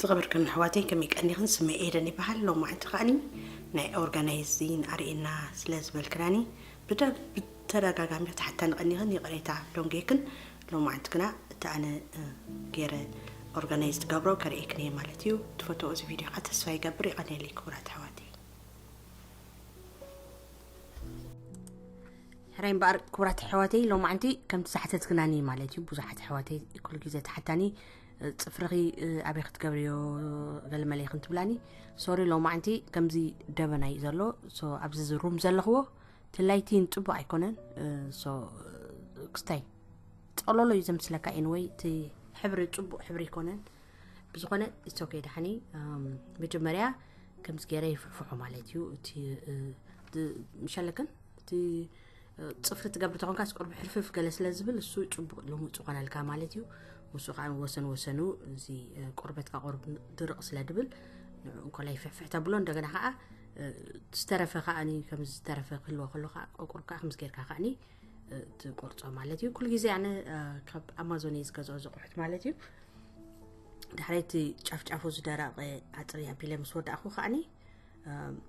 ዝኸበርክን ኣሕዋተይ ከመይ ቀኒኽን ስመይ ኤደን ይበሃል ሎማዕንቲ ከዓኒ ናይ ኦርጋናይዚን ኣርእና ስለ ዝበልክናኒ ብተደጋጋሚ ተሓታኒ ቀኒኽን ይቕሬታ ዶንጌክን ሎማዕንቲ ግና እቲ ኣነ ገይረ ኦርጋናይዝ ትገብሮ ከርእየክን እየ ማለት እዩ ትፈትዎ እዚ ቪድዮ ከዓ ተስፋ ይገብር ይቐኒየለይ ክቡራት ኣሕዋተይ ሕራይ እምበኣር ክቡራት ኣሕዋተይ ሎማዕንቲ ከምቲ ዝሓተትክናኒ ማለት እዩ ብዙሓት ኣሕዋተይ ኩሉ ግዜ ተሓታኒ ፅፍርኺ ኣበይ ክትገብርዮ ገልመለይ ክንትብላኒ ሶሪ ሎማዕንቲ ከምዚ ደበና እዩ ዘሎ ኣብዚ ዝሩም ዘለኽዎ ትላይቲን ፅቡቅ ኣይኮነን ክስታይ ፀሎሎ እዩ ዘምስለካ ኤንወይ እቲ ሕብሪ ፅቡቅ ሕብሪ ኣይኮነን ብዝኾነ እሶከ ዳሓኒ መጀመርያ ከምዚ ገይረ ይፍሕፍሖ ማለት እዩ እቲ ምሸለክን እቲ ፅፍሪ ትገብር ተኾንካ ስቆርብ ሕርፍፍ ገለ ስለ ዝብል እሱ ፅቡቅ ልሙፅ ዝኾነልካ ማለት እዩ ንሱ ከዓ ወሰን ወሰኑ እዚ ቆርበትካ ቆርብ ድርቅ ስለ ድብል ንዕኡ እንኮላ ይፍሕፍሕ ተብሎ እንደገና ከዓ ዝተረፈ ከዓኒ ከም ዝተረፈ ክህልዎ ከሎ ከዓ ቆቁር ከዓ ከምዚ ጌርካ ከዓኒ ትቆርፆ ማለት እዩ ኩሉ ግዜ ኣነ ካብ ኣማዞን እየ ዝገዝኦ ዘቑሑት ማለት እዩ ድሕረይቲ ጫፍጫፉ ዝደረቐ ኣፅሪ ኣቢለ ምስ ወዳእኹ ከዓኒ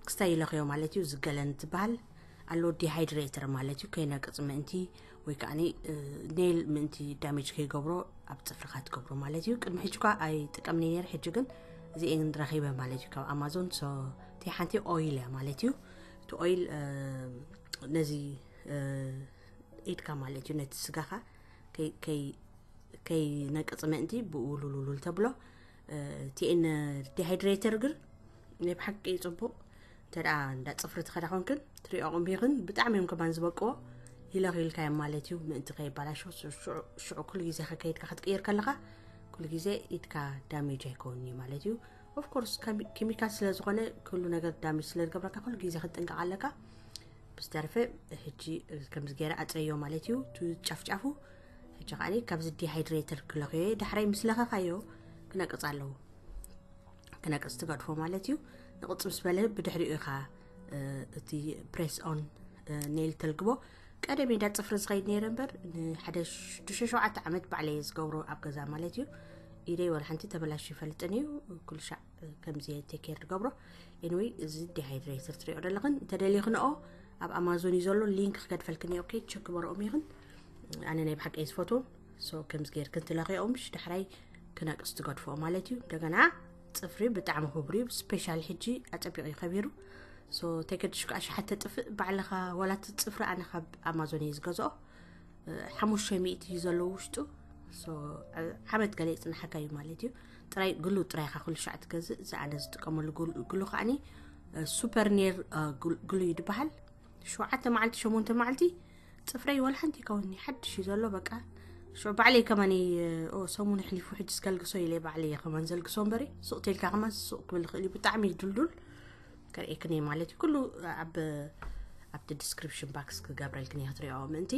ክስታይ ይለኽዮ ማለት እዩ ዝገለን ትበሃል ኣሎ ዲሃይድሬተር ማለት እዩ ከይነቅፅ ምእንቲ ወይ ከዓ ኔል ምእንቲ ዳሜጅ ከይገብሮ ኣብ ፅፍርካ ትገብሮ ማለት እዩ ቅድሚ ሕጂ ኳ ኣይጥቀምኒ ነር ሕጂ ግን እዚኤን ረኺበ ማለት እዩ ካብ ኣማዞን እቲ ሓንቲ ኦይል እያ ማለት እዩ እቲ ኦይል ነዚ ኢድካ ማለት እዩ ነቲ ስጋኻ ከይነቅፅ ምእንቲ ብኡ ሉሉሉል ተብሎ ቲኤን ዲሃይድሬተር ግን ናይ ብሓቂ ፅቡቅ እንተ እንዳ ፅፍሪ ትኸዳ ኮንክን ትሪኦ ቁምቢኽን ብጣዕሚ እዮም ከማን ዝበቅዎ ሂለኽ ኢልካ እዮም ማለት እዩ ምእንቲ ከይባላሾ ሽዑ ኩሉ ግዜ ከከይድካ ክትቅይር ከለካ ኩሉ ግዜ ኢድካ ዳሜጅ ኣይከውን እዩ ማለት እዩ ኦፍኮርስ ኬሚካል ስለ ዝኾነ ኩሉ ነገር ዳሜጅ ስለ ዝገብረካ ኩሉ ግዜ ክትጥንቀቕ ኣለካ ብዝተረፈ ሕጂ ከምዚ ገይረ ኣፅረዮ ማለት እዩ ጫፍጫፉ ሕጂ ከዓኒ ካብዚ ዲሃይድሬተር ክለኽዮ እየ ዳሕራይ ምስ ለኸኻዮ ክነቅፅ ኣለዎ ክነቅፅ ትገድፎ ማለት እዩ ንቕፅ ምስ በለ ብድሕሪኡ ኢኻ እቲ ፕሬስ ኦን ኔል ተልግቦ ቀደም ዳ ፅፍሪ ዝኸይድ ነይረ እምበር ንሓደ ሽዱሽተ ሸውዓተ ዓመት ባዕለየ ዝገብሮ ኣብ ገዛ ማለት እዩ ኢደይ ወላ ሓንቲ ተበላሽ ይፈልጥን እዩ ኩሉ ሻዕ ከምዚ ቴኬር ዝገብሮ ኤንወይ እዚ ዲሃይድሬተር ትሪኦ ዘለኽን እንተደሊኽንኦ ኣብ ኣማዞን እዩ ዘሎ ሊንክ ክገድፈልክን እየ ኦኬ ቸክ በረኦም ይኽን ኣነ ናይ ብሓቂ እየ ዝፈትዎም ሶ ከምዚ ጌርክን ትለኽኦም ሽ ዳሕራይ ክነቅስ ትገድፍኦ ማለት እዩ እንደገና ፅፍሪ ብጣዕሚ ክብሩ እዩ ስፔሻል ሕጂ ኣፀቢቑ እዩ ከቢሩ ሶ ተገድሽ ከዓ ሸሓተ ጥፍእ ባዕልኻ ዋላ እቲ ፅፍሪ ኣነ ካብ ኣማዞን እዩ ዝገዝኦ ሓሙሽተ ሚእቲ እዩ ዘለዎ ውሽጡ ሶ ዓመት ገለ ይፅናሓካ እዩ ማለት እዩ ጥራይ ግሉ ጥራይ ካ ኩሉ ሻዕ ትገዝእ እዚ ኣነ ዝጥቀመሉ ግሉ- ግሉ ከዓኒ ሱፐር ኔር ግሉ እዩ ዝበሃል ሸውዓተ መዓልቲ ሸሞንተ መዓልቲ ፅፍረይ ወላ ሓንቲ ይከውኒ ሓድሽ እዩ ዘሎ በቃ ሽዑ ባዕለይ ከማን ሰሙን ኣሕሊፉ ሕጂ ስከልግሶ ኢለ ባዕለይ እየ ከማን ዘልግሶ እምበሪ ሱቅ ተልካ ከማን ሱቅ ክብል ይኽእል እዩ ብጣዕሚ እዩ ድልዱል ከርእየክኒ ማለት እዩ ኩሉ ኣብ ኣብቲ ዲስክሪፕሽን ባክስ ክገብረልክኒ እያ ትሪኦ ምእንቲ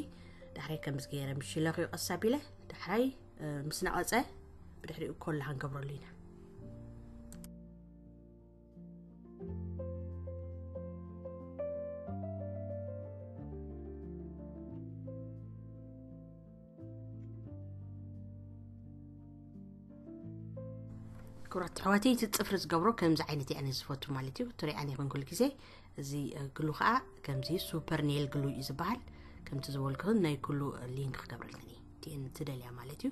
ዳሕራይ ከምዚ ገይረ ምሽ ለኽዮ ቀስ ኣቢለ ዳሕራይ ምስ ነቐፀ ብድሕሪኡ ኮላ ክንገብረሉ ኢና ክብራት ኣሕዋተይ እቲ ፅፍሪ ዝገብሮ ከምዚ ዓይነት እየ ኣነ ዝፈቱ ማለት እዩ ትሪኣን ይኹን ኩሉ ግዜ እዚ ግሉ ከዓ ከምዚ ሱፐር ኔል ግሉ እዩ ዝበሃል ከምቲ ዝበልክኽን ናይ ኩሉ ሊንክ ክገብረልክን እየ ትደልያ ማለት እዩ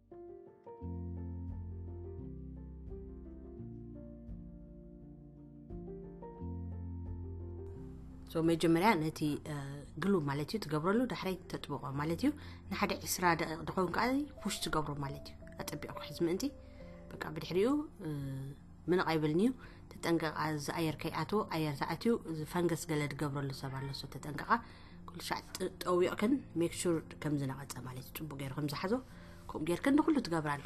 መጀመርያ ነቲ ግሉ ማለት እዩ ትገብረሉ ዳሕራይ ተጥብቆ ማለት እዩ ንሓደ ዕስራ ደቂቅ ድኸውን ከዓ ፑሽ ትገብሮ ማለት እዩ ኣጠቢቅኩ ሕዚ ምእንቲ በቃ ብድሕሪኡ ምንቕ ኣይብልን'ዩ ተጠንቀቓ እዚ ኣየር ከይኣትዎ ኣየር ተኣትዩ እዚ ፈንገስ ገለ ዝገብረሉ ሰብ ኣሎ ሶ ተጠንቀቓ ኩሉ ሻዕ ጠዊቕክን ሜክ ሹር ከም ዝነቐጸ ማለት እዩ ጽቡቕ ገይሩ ከም ዝሓዞ ከምኡ ጌርክን ንኹሉ ትገብራሉ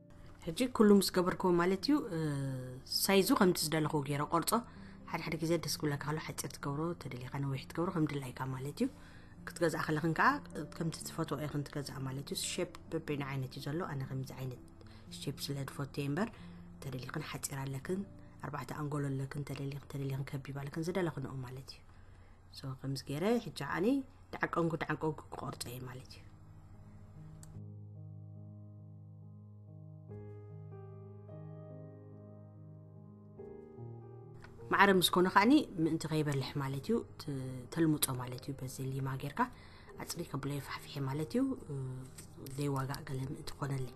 ሕጂ ኩሉ ምስ ገበርክዎ ማለት እዩ ሳይዙ ከምቲ ዝደለኽዎ ገይረ ቆርጾ ሓደ ሓደ ግዜ ደስ ክብለካ ከሎ ሓፂር ትገብሮ ተደሊኻ ነዊሕ ትገብሮ ከም ድላይካ ማለት እዩ ክትገዝኣ ከለኽን ከዓ ከምቲ ትፈትዎ ኢኽን ትገዝኣ ማለት እዩ ሼፕ በበይኑ ዓይነት እዩ ዘሎ ኣነ ከምዚ ዓይነት ሼፕ ስለ ዝፈቱ እየ እምበር ተደሊኽን ሓፂር ኣለክን ኣርባዕተ ኣንጎሎ ኣለክን ተደሊኽን ተደሊኽን ከቢብ ኣለክን ዝደለኽንኦ ማለት እዩ ከምዚ ገይረ ሕጂ ዓኒ ዳዓቀንኩ ዳዓቀንኩ ክቆርፆ እየ ማለት እዩ ማዕረ ምስ ኮነ ከዓኒ ምእንቲ ከይበልሕ ማለት እዩ ተልሙፆ ማለት እዩ በዚ ሊማ ጌርካ ኣፅሪ ከብሎ የፋሕፍሐ ማለት እዩ ዘይዋጋእ ገለ ምእንቲ ኮነለይ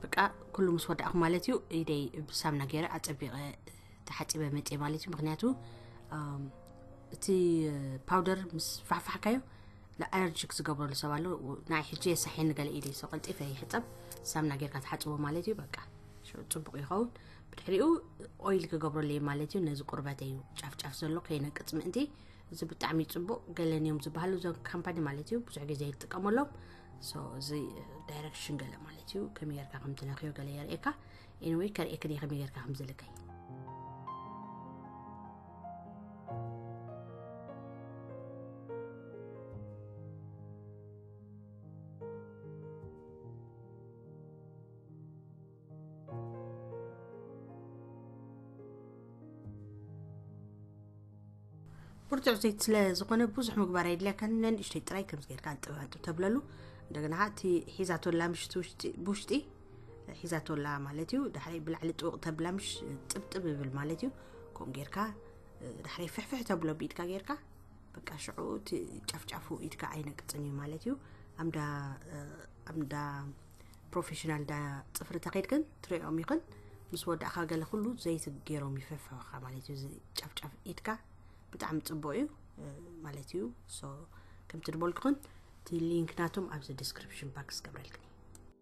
በቃ ኩሉ ምስ ወዳእኹ ማለት እዩ ኢደይ ብሳምና ገይረ ኣፀቢቐ ተሓፂበ መፀ ማለት እዩ ምክንያቱ እቲ ፓውደር ምስ ፋሕፋሕካዮ ንኣለርጂክ ዝገብረሉ ሰብ ኣሎ ናይ ሕጂ የሳሒኒ ገለ ኢደ ሰው ቀልጢፈ ይሕፀብ ሳምና ጌርካ ትሓፅቦ ማለት እዩ በቃ ፅቡቅ ይኸውን ብድሕሪኡ ኦይል ክገብረሉ እዩ ማለት እዩ ነዚ ቁርበተ እዩ ጫፍጫፍ ዘሎ ከይነቅፅ ምእንቲ እዚ ብጣዕሚ ፅቡቅ ገለን እዮም ዝበሃሉ እዞም ካምፓኒ ማለት እዩ ብዙሕ ግዜ ይጥቀመሎም እዚ ዳይረክሽን ገለ ማለት እዩ ከመይ ጌርካ ከምትነክዮ ገለ የርእየካ ኤኒወይ ከርእየክን እየ ከመይ ጌርካ ከምዘለካይ ብርቱዕ ዘይት ስለ ዝኾነ ብዙሕ ምግባር የድልያካን ነንእሽተይ ጥራይ ከምዚ ጌርካ ኣንጥብ ኣንጥብ ተብለሉ እንደገና እቲ ሒዛቶ ኣላ ምሽቲ ውሽጢ ብውሽጢ ሒዛቶላ ማለት እዩ ዳሕረይ ብላዕሊ ጥውቕ ተብላ ምሽ ጥብጥብ ይብል ማለት እዩ ከምኡ ጌርካ ዳሕረይ ፍሕፍሕ ተብሎ ብኢድካ ጌርካ በቃ ሽዑ እቲ ጫፍጫፉ ኢድካ ኣይነቅፅን እዩ ማለት እዩ ኣምዳ ኣምዳ ፕሮፌሽናል ዳ ፅፍሪ ተኸይድክን ትሪኦም ይኽን ምስ ወዳእካ ገለ ኩሉ ዘይቲ ገይሮም ይፍሕፍሕካ ማለት እዩ ጫፍጫፍ ኢድካ ብጣዕሚ ፅቡቅ እዩ ማለት እዩ ከምቲ ድበልኩኽን እቲ ሊንክ ናቶም ኣብዚ ዲስክሪፕሽን ባክስ ገብረልክን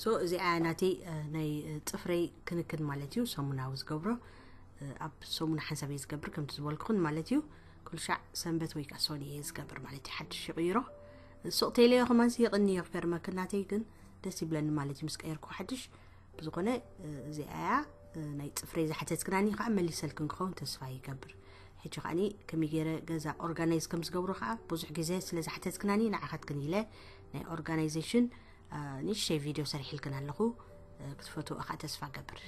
ሶ እዚኣ ናተይ ናይ ፅፍረይ ክንክን ማለት እዩ ሰሙናዊ ዝገብሮ ኣብ ሰሙን ሓንሳብ እየ ዝገብር ከምቲ ዝበልኩኹን ማለት እዩ ኩልሻዕ ሰንበት ወይ ከዓ ሶኒ እየ ዝገብር ማለት እዩ ሓድሽ ይቕይሮ ሱቕ ቴለዮ ከማንስ የቕንዮ ክገርመክ ናተይ ግን ደስ ይብለኒ ማለት እዩ ምስ ቀየርኩ ሓድሽ ብዝኾነ እዚኣ እያ ናይ ፅፍረይ ዝሓተትክናኒ ከዓ መሊሰልክን ክኸውን ተስፋ ይገብር ሕጂ ከዓኒ ከመይ ገይረ ገዛ ኦርጋናይዝ ከም ዝገብሮ ከዓ ብዙሕ ግዜ ስለ ዝሓተትክናኒ ንዓኻትክን ኢለ ናይ ኦርጋናይዜሽን ንእሽተይ ቪድዮ ሰሪሕልክን ኣለኹ ክትፈትዎ ከዓ ተስፋ ገብር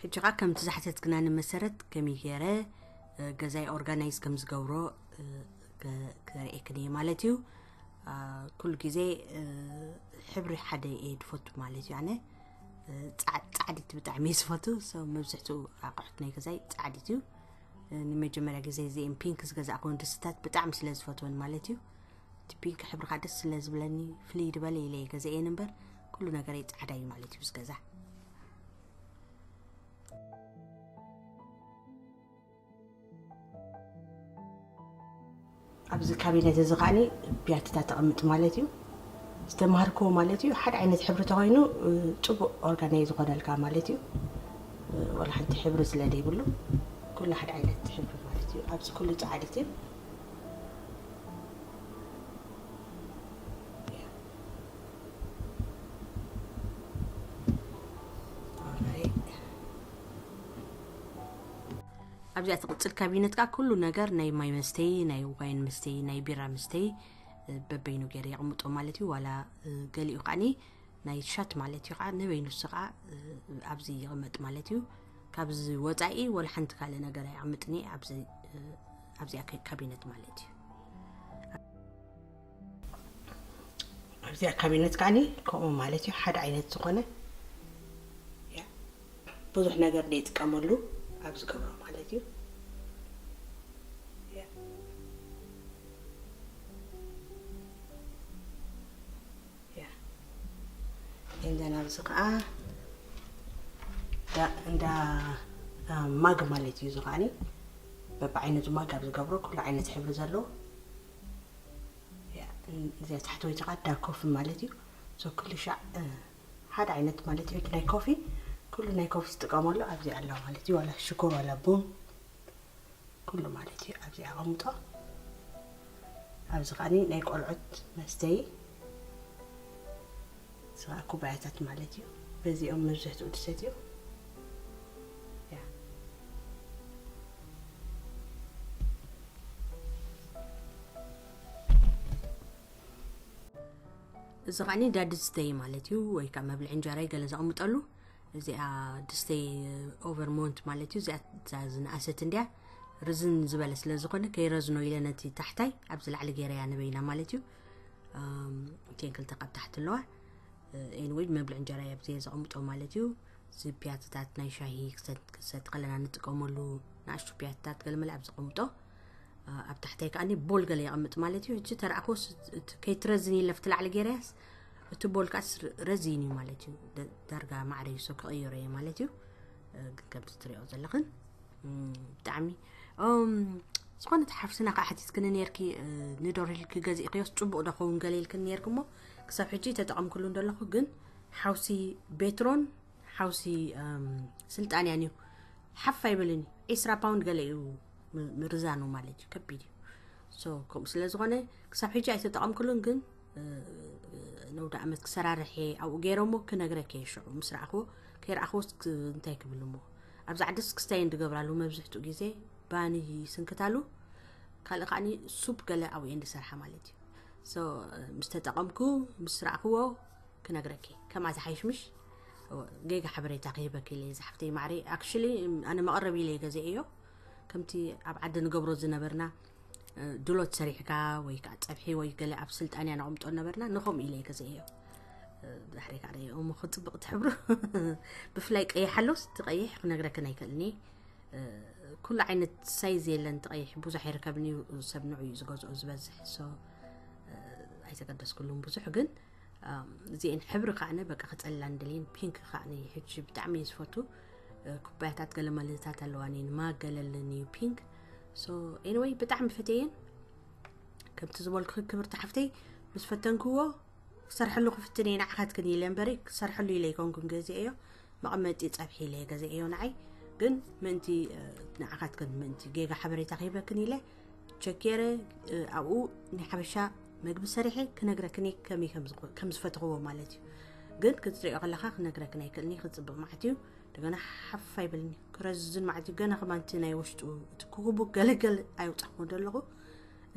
ሕጂ ከኣ ከምቲ ዝሓተትክናኒ መሰረት ከመይ ገይረ ገዛይ ኦርጋናይዝ ከም ዝገብሮ ክርእየክን እየ ማለት እዩ ኩሉ ግዜ ሕብሪ ሓደ እየ ድፈቱ ማለት እዩ ኣነ ፃዕዲቲ ብጣዕሚ እየ ዝፈቱ መብዝሕትኡ ኣቑሑት ናይ ገዛይ ፃዕዲት እዩ ንመጀመርያ ግዜ እዚኦም ፒንክ ዝገዛእክውን ድስታት ብጣዕሚ ስለ ዝፈትወን ማለት እዩ እቲ ፒንክ ሕብሪ ከዓ ደስ ስለ ዝብለኒ ፍልይ ድበለ ኢለ እየ ገዛኤን እምበር ኩሉ ነገረይ ጻዕዳ እዩ ማለት እዩ ዝገዛ ኣብዚ ካቢነት እዚ ከዓኒ ቢያትታ ተቐምጥ ማለት እዩ ዝተማሃርክዎ ማለት እዩ ሓደ ዓይነት ሕብሪ ተኮይኑ ፅቡቅ ኦርጋናይ ዝኾነልካ ማለት እዩ ወላ ሓንቲ ሕብሪ ስለ ዘይብሉ ኩሉ ሓደ ዓይነት ሕብሪ ማለት እዩ ኣብዚ ኩሉ ፃዕድት እዩ ኣብዚኣ ትቕፅል ካቢነት ከዓ ኩሉ ነገር ናይ ማይ መስተይ ናይ ዋይን መስተይ ናይ ቢራ መስተይ በበይኑ ገይረ የቕምጦ ማለት እዩ ዋላ ገሊኡ ከዓኒ ናይ ሻት ማለት እዩ ከዓ ንበይኑ ንሱ ከዓ ኣብዚ ይቕመጥ ማለት እዩ ካብዚ ወፃኢ ወላ ሓንቲ ካልእ ነገር ኣይቕምጥኒ ኣብዚኣ ካቢነት ማለት እዩ ኣብዚኣ ካቢነት ከዓኒ ከምኡ ማለት እዩ ሓደ ዓይነት ዝኾነ ብዙሕ ነገር ዘይጥቀመሉ ኣብ ዝገብሮ ማለት እዩ እንደና ኣብዚ ከዓ እንዳ ማግ ማለት እዩ እዚ ከዓኒ በብዓይነቱ ማግ ኣብ ዝገብሮ ኩሉ ዓይነት ሕብሪ ዘለዎ እዚኣ ታሕተወይቲ ቃል ዳ ኮፊ ማለት እዩ ሶ ክልሻዕ ሓደ ዓይነት ማለት እዩ ናይ ኮፊ ኩሉ ናይ ኮፊ ዝጥቀመሉ ኣብዚ ኣሎ ማለት እዩ ዋላ ሽኮር ዋላ ቡን ኩሉ ማለት እዩ ኣብዚ ኣቐምጦ ኣብዚ ከዓኒ ናይ ቆልዑት መስተይ ስቓ ኩባያታት ማለት እዩ በዚኦም መብዝሕትኡ ድሰትዮ ያ። እዚ ከዓኒ እንዳ ድስተይ ማለት እዩ ወይ ከዓ መብልዒ እንጀራይ ገለ ዘቕምጠሉ እዚኣ ድስተይ ኦቨር ሞንት ማለት እዩ እዚኣ ዝነኣሰት እንዲያ ርዝን ዝበለ ስለ ዝኾነ ከይረዝኖ ኢለ ነቲ ታሕታይ ኣብዚ ላዕሊ ገይረያ ነበይና ማለት እዩ እቲን ክልተ ካብ ታሕቲ ኣለዋ ኤንወይ መብልዕ እንጀራ እየ ብዘየ ዘቐምጦ ማለት እዩ እዚ ፒያትታት ናይ ሻሂ ክሰጥ ከለና ንጥቀመሉ ንኣሽቱ ፒያትታት ገለመለ ኣብ ዘቐምጦ ኣብ ታሕተይ ከዓኒ ቦል ገለ የቐምጥ ማለት እዩ እቺ ተረኣኮስ ከይትረዝን ይለፍቲ ላዕሊ ገይረያስ እቲ ቦል ከዓስ ረዚን እዩ ማለት እዩ ዳርጋ ማዕረ ይሶ ክቕይሮ እየ ማለት እዩ ግን ከምቲ ትሪኦ ዘለኽን ብጣዕሚ ዝኾነት ሓፍትና ከዓ ሓቲትክኒ ነርኪ ንዶር ኢልኪ ገዚእክዮስ ፅቡቅ ዶ ኸውን ገለ ኢልክን ነርኪ እሞ ክሳብ ሕጂ ተጠቐምክሉ እንደለኹ ግን ሓውሲ ቤትሮን ሓውሲ ስልጣን እያን እዩ ሓፍ ኣይብልን እዩ ዒስራ ፓውንድ ገለ እዩ ምርዛኑ ማለት እዩ ከቢድ እዩ ከምኡ ስለ ዝኾነ ክሳብ ሕጂ ኣይተጠቐምክሉን ግን ነውዲ ዓመት ክሰራርሕ እየ ኣብኡ ገይረሞ ክነግረክ እየ ሽዑ ምስ ረኣኽዎ ከይረኣኽዎስ እንታይ ክብል እሞ ኣብዚ ዓድስ ክስታይ እንድገብራሉ መብዝሕትኡ ግዜ ባኒ ስንክታሉ ካልእ ከዓኒ ሱፕ ገለ ኣብኡ እየ እንድሰርሓ ማለት እዩ ምስ ተጠቐምኩ ምስ ረኣኽዎ ክነግረክ ከምኣ ዝሓይሽ ምሽ ጌጋ ሓበሬታ ክህበክ ኢለ ዝሓፍተይ ማዕሪ ኣክሽሊ ኣነ መቐረቢ ኢለ ገዜ እዮ ከምቲ ኣብ ዓዲ ንገብሮ ዝነበርና ድሎት ሰሪሕካ ወይ ከዓ ፀብሒ ወይ ገለ ኣብ ስልጣን እያ ነቕምጦ ነበርና ንኸምኡ ኢለ ገዘ እዮ ድሕሪ ከዓ ረዮ እሞ ክፅብቕ ትሕብሩ ብፍላይ ቀይሕ ኣሎስ እቲ ቀይሕ ክነግረክን ኣይክእልኒ ኩሉ ዓይነት ሳይዝ የለን እቲ ቀይሕ ብዙሕ ይርከብን እዩ ሰብ ንዑ እዩ ዝገዝኦ ዝበዝሕ ሶ ኣይተገደስኩሉም ብዙሕ ግን እዚኤን ሕብሪ ከዓነ በቃ ክፀላን ደልየን ፒንክ ከዓነ ሕጂ ብጣዕሚ እዩ ዝፈቱ ኩባያታት ገለ መለታት ኣለዋን እየን ማገለልን እዩ ፒንክ ሶ ኤኒወይ ብጣዕሚ ፈትየን ከምቲ ዝበልኩ ክብርቲ ሓፍተይ ምስ ፈተንክዎ ክሰርሐሉ ክፍትን እየ ንዓኻትክን ኢለ እምበሪ ክሰርሐሉ ኢለ ይኮንኩም ገዜ እዮ መቐመጢ ፀብሒ ኢለ ገዜ እዮ ንዓይ ግን ምእንቲ ንዓኻትክን ምእንቲ ጌጋ ሓበሬታ ክህበክን ኢለ ቸኬረ ኣብኡ ናይ ሓበሻ መግቢ ሰሪሐ ክነግረክኒ ከመይ ከም ዝፈትኽዎ ማለት እዩ ግን ክትሪኦ ከለካ ክነግረክን ኣይክእልኒ ክፅብቅ ማለት እዩ እንደገና ሓፍ ኣይብልኒ ክረዝን ማለት እዩ ገና ከማንቲ ናይ ውሽጡ እቲ ክኩቡ ገለገል ኣይውፃኹ ዘለኹ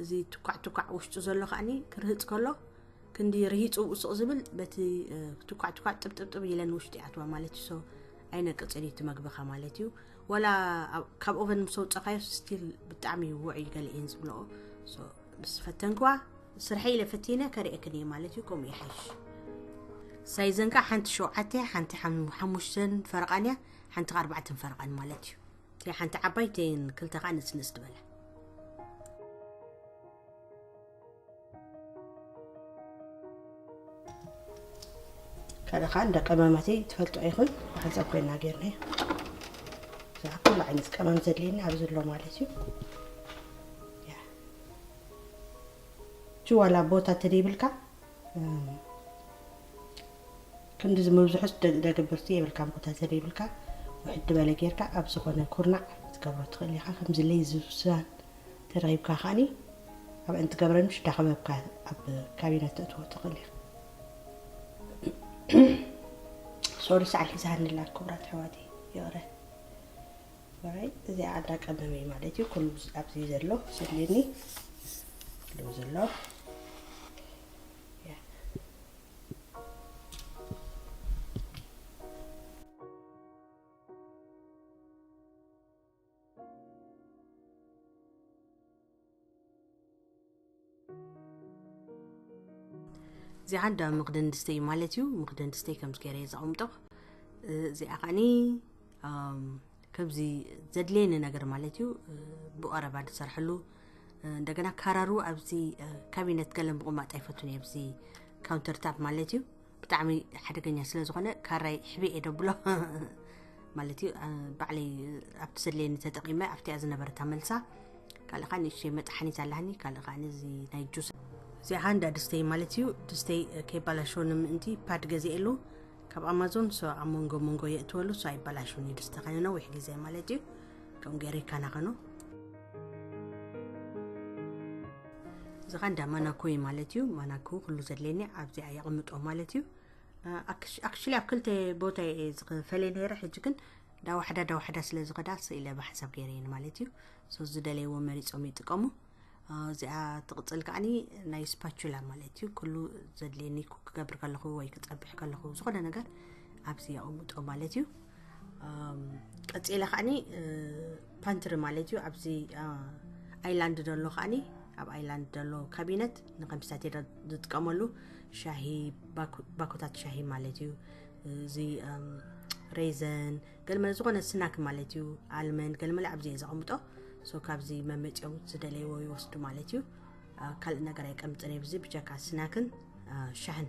እዚ ትኳዕ ትኳዕ ውሽጡ ዘሎ ከዓኒ ክርህፅ ከሎ ክንዲ ርሂፁ ውስቕ ዝብል በቲ ትኳዕ ትኳዕ ጥብጥብጥብ ኢለን ውሽጢ ይኣትዋ ማለት እዩ ሶ ኣይነቅፅን እዩ እቲ መግብኻ ማለት እዩ ወላ ካብ ኦቨን ምስ ኣውፀኻዮ ስቲል ብጣዕሚ ውዕ እዩ ገለ እየን ዝብለኦ ምስ ፈተንክዋ ስርሐይ ኢለ ፈቲነ ከርእየክን እየ ማለት እዩ ከምኡ ይሓይሽ ሳይዘን ከዓ ሓንቲ ሸውዓተ እያ ሓንቲ ሓም- ሓሙሽተን ፈረቓን እያ ሓንቲ ከዓ ኣርባዕተን ፈረቓን ማለት እዩ እቲኣ ሓንቲ ዓባይ እተን ክልተ ከዓ ንፅንፅ ዝበላ ከለ ከዓ እንደ ቀመማት ትፈልጦ ይኹን ሓንሳብ ኮይና ጌርና እዛ ኩሉ ዓይነት ቀመም ዘድልየና ኣብዚ ኣሎ ማለት እዩ ጅዋላ ቦታ ተደይብልካ ክንዲ ዝምብዝሑስ ደግብርቲ የብልካ ቦታ ተደይብልካ ውሕድ በለ ጌርካ ኣብ ዝኾነ ኩርናዕ ክትገብሮ ትኽእል ኢኻ ከምዚ ለይ ዝብሳን ተዳሂብካ ከኣኒ ኣብ እንትገብረንሽ ዳኸበብካ ኣብ ካቢነ ተእትዎ ትኽእል ኢኻ። ሶሪ ሰዓል ሒዛኒ ኣላ ክቡራት ኣሕዋተይ ይቕረ በራይ እዚኣ ኣዳ ቀመመይ ማለት እዩ ኩሉ ኣብዚ ዘሎ ዘድልየኒ ኣለዎ ዘሎ እዚኣ እንዳ መኽደን ድስተይ ማለት እዩ መኽደን ድስተይ ከምዚ ገይረ እየ ዘቐምጦ እዚኣ ከዓኒ ከምዚ ዘድልየኒ ነገር ማለት እዩ ብቐረባ ዝሰርሐሉ እንደገና ካራሩ ኣብዚ ካቢነት ገለ ምቕማጥ ኣይፈቱን እየ ኣብዚ ካውንተር ታፕ ማለት እዩ ብጣዕሚ ሓደገኛ ስለ ዝኾነ ካራይ ሕብእ እየ ደብሎ ማለት እዩ ባዕለይ ኣብቲ ዘድለየኒ ተጠቂመ ኣብቲኣ ዝነበረት ኣመልሳ ካልእ ከዓ ንእሽተይ መጥሓኒት ኣላሃኒ ካልእ ከዓ ነዚ ናይ ጁስ እዚኣ እንዳ ድስተይ ማለት እዩ ድስተይ ከይባላሸወኒ ምእንቲ ፓድ ገዚኤሉ ካብ ኣማዞን ሶ ኣብ መንጎ መንጎ የእትወሉ ሶ ኣይባላሸወኒ ድስተ ከነ ነዊሕ ግዜ ማለት እዩ ከምኡ ገይረ ይከናኸኖ እዚ ኸ እንዳ ማናኮ እዩ ማለት እዩ ማናኮ ኩሉ ዘድልየኒ ኣብዚኣ የቕምጦ ማለት እዩ ኣክሽሊ ኣብ ክልተ ቦታ እየ ዝፈለየ ነይረ ሕጂ ግን ዳዋሕዳ ዳዋሕዳ ስለ ዝኸዳ ስኢለ ብሓንሳብ ገይረየን ማለት እዩ ሶ ዝደለይዎ መሪፆም ይጥቀሙ እዚኣ ትቕፅል ከዓኒ ናይ ስፓቹላ ማለት እዩ ኩሉ ዘድልየኒ ኩክ ክገብር ከለኹ ወይ ክፀብሕ ከለኹ ዝኾነ ነገር ኣብዚ የቕምጦ ማለት እዩ ቀፂለ ከዓኒ ፓንትሪ ማለት እዩ ኣብዚ ኣይላንድ ዘሎ ከዓኒ ኣብ ኣይላንድ ዘሎ ካቢነት ንከምስታት ዝጥቀመሉ ሻሂ ባኮታት ሻሂ ማለት እዩ እዚ ሬዘን ገልመል ዝኾነ ስናክ ማለት እዩ ኣልመን ገልመል ኣብዚ እየ ዘቐምጦ ሶ ካብዚ መመፅኦም ዝደለይዎ ይወስዱ ማለት እዩ ካልእ ነገር ኣይቀምጥን እየ ብዚ ብጀካ ስናክን ሻሕን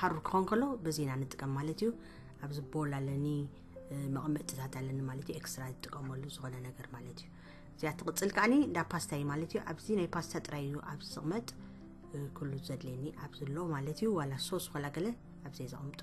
ሓሩር ክኾን ከሎ በዚ ኢና ንጥቀም ማለት እዩ ኣብዚ ቦል ኣለኒ መቐመጥታት ኣለኒ ማለት እዩ ኤክስትራ ዝጥቀመሉ ዝኾነ ነገር ማለት እዩ እዚኣ ትቕፅል ከዓኒ እንዳ ፓስታ እዩ ማለት እዩ ኣብዚ ናይ ፓስታ ጥራይ እዩ ኣብዚ ዝቕመጥ ኩሉ ዘድልየኒ ኣብዚ ኣሎ ማለት እዩ ዋላ ሶስ ኮላ ገለ ኣብዚ ዘቕምጦ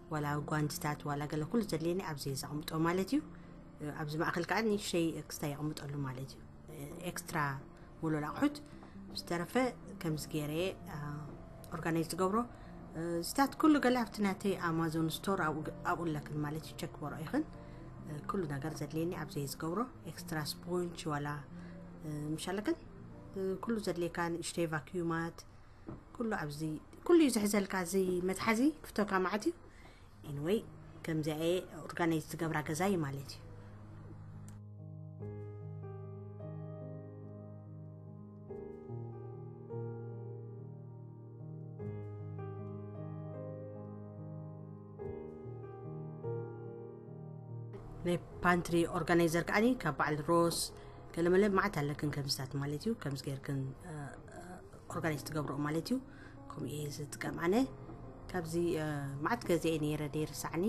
ዋላ ጓንትታት ዋላ ገለ ኩሉ ዘድልየኒ ኣብዚ ዘቕምጦ ማለት እዩ ኣብዚ ማእኸል ከዓ ንእሽተይ ክስታይ የቕምጠሉ ማለት እዩ ኤክስትራ ሙሉል ኣቑሑት ዝተረፈ ከምዚ ገይረ ኦርጋናይዝ ዝገብሮ እዚታት ኩሉ ገለ ኣብቲ ናተይ ኣማዞን ስቶር ኣብኡ ኣለክን ማለት እዩ ቸክ በሮ ይኽን ኩሉ ነገር ዘድልየኒ ኣብዘይ ዝገብሮ ኤክስትራ ስፖንች ዋላ ምሻለክን ኩሉ ዘድልየካ ንእሽተይ ቫክዩማት ኩሉ ኣብዚ ኩሉ እዩ ዝሕዘልካ እዚ መትሓዚ ክፍቶካ ማዓት እዩ ኢንወይ ከምዚኣ እየ ኦርጋናይዝ ዝገብራ ገዛ እዩ ማለት እዩ ናይ ፓንትሪ ኦርጋናይዘር ከዓኒ ካብ በዓል ሮስ ገለመለ ማዓት ኣለክን ከምዚታት ማለት እዩ ከምዚ ገይርክን ኦርጋኒክ ትገብሮ ማለት እዩ ከምኡ እየ ዝጥቀም ኣነ ካብዚ ማዓት ገዜ እየ ነይረ ደይርሳዕኒ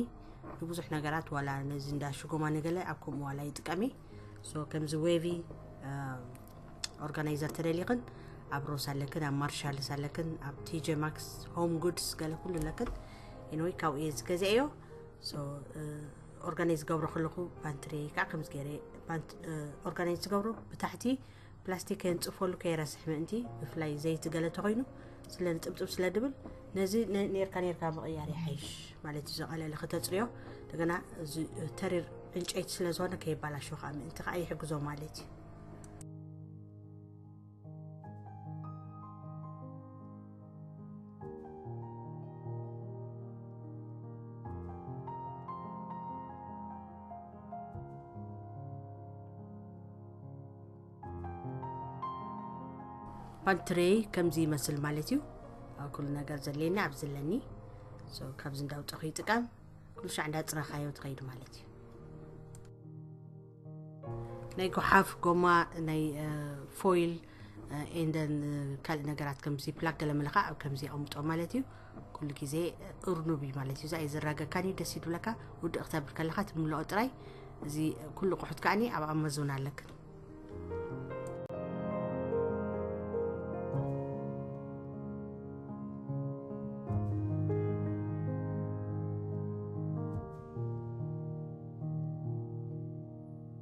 ንብዙሕ ነገራት ዋላ ነዚ እንዳ ሽጎማ ነገለ ኣብ ከምኡ ዋላ ይጥቀም እየ ሶ ከምዚ ዌቪ ኦርጋናይዘር ተደሊኽን ኣብ ሮስ ኣለክን ኣብ ማርሻልስ ኣለክን ኣብ ቲጀ ማክስ ሆም ጉድስ ገለ ኩሉ ኣለክን ኢንወይ ካብኡ እየ ዝገዜ እዮ ኦርጋናይዝ ገብሮ ከለኹ ባንትሪ ከዓ ከምዚ ገይረ ኦርጋናይዝ ዝገብሮ ብታሕቲ ፕላስቲክ ከየንጽፈሉ ከይረስሕ ምእንቲ ብፍላይ ዘይቲ ገለ ተኮይኑ ስለ ጥብጥብ ስለ ድብል ነዚ ኔርካ ኔርካ ምቕያር ይሓይሽ ማለት እዩ ዘቐለለ ክተፅርዮ እንደገና ተሪር ዕንጨይቲ ስለ ዝኾነ ከይባላሾ ከዓ ምእንቲ ከዓ ይሕግዞ ማለት እዩ ፓንትሬይ ከምዚ ይመስል ማለት እዩ ኣብ ኩሉ ነገር ዘድልየኒ ኣብ ዝለኒ ካብዚ እንዳውፀኹ ይጥቀም ኩሉ ሻዕ እንዳፅረኻዮ ትኸይድ ማለት እዩ ናይ ጎሓፍ ጎማ ናይ ፎይል ኤንደን ካልእ ነገራት ከምዚ ፕላክ ገለ መለካ ኣብ ከምዚ ኣቕምጦ ማለት እዩ ኩሉ ግዜ እርኑብ እዩ ማለት እዩ እዛ የዘራገካን እዩ ደስ ይድብለካ ውድእ ክተብል ከለካ ትምልኦ ጥራይ እዚ ኩሉ ቁሑት ከዓኒ ኣብ ኣማዞን ኣለክን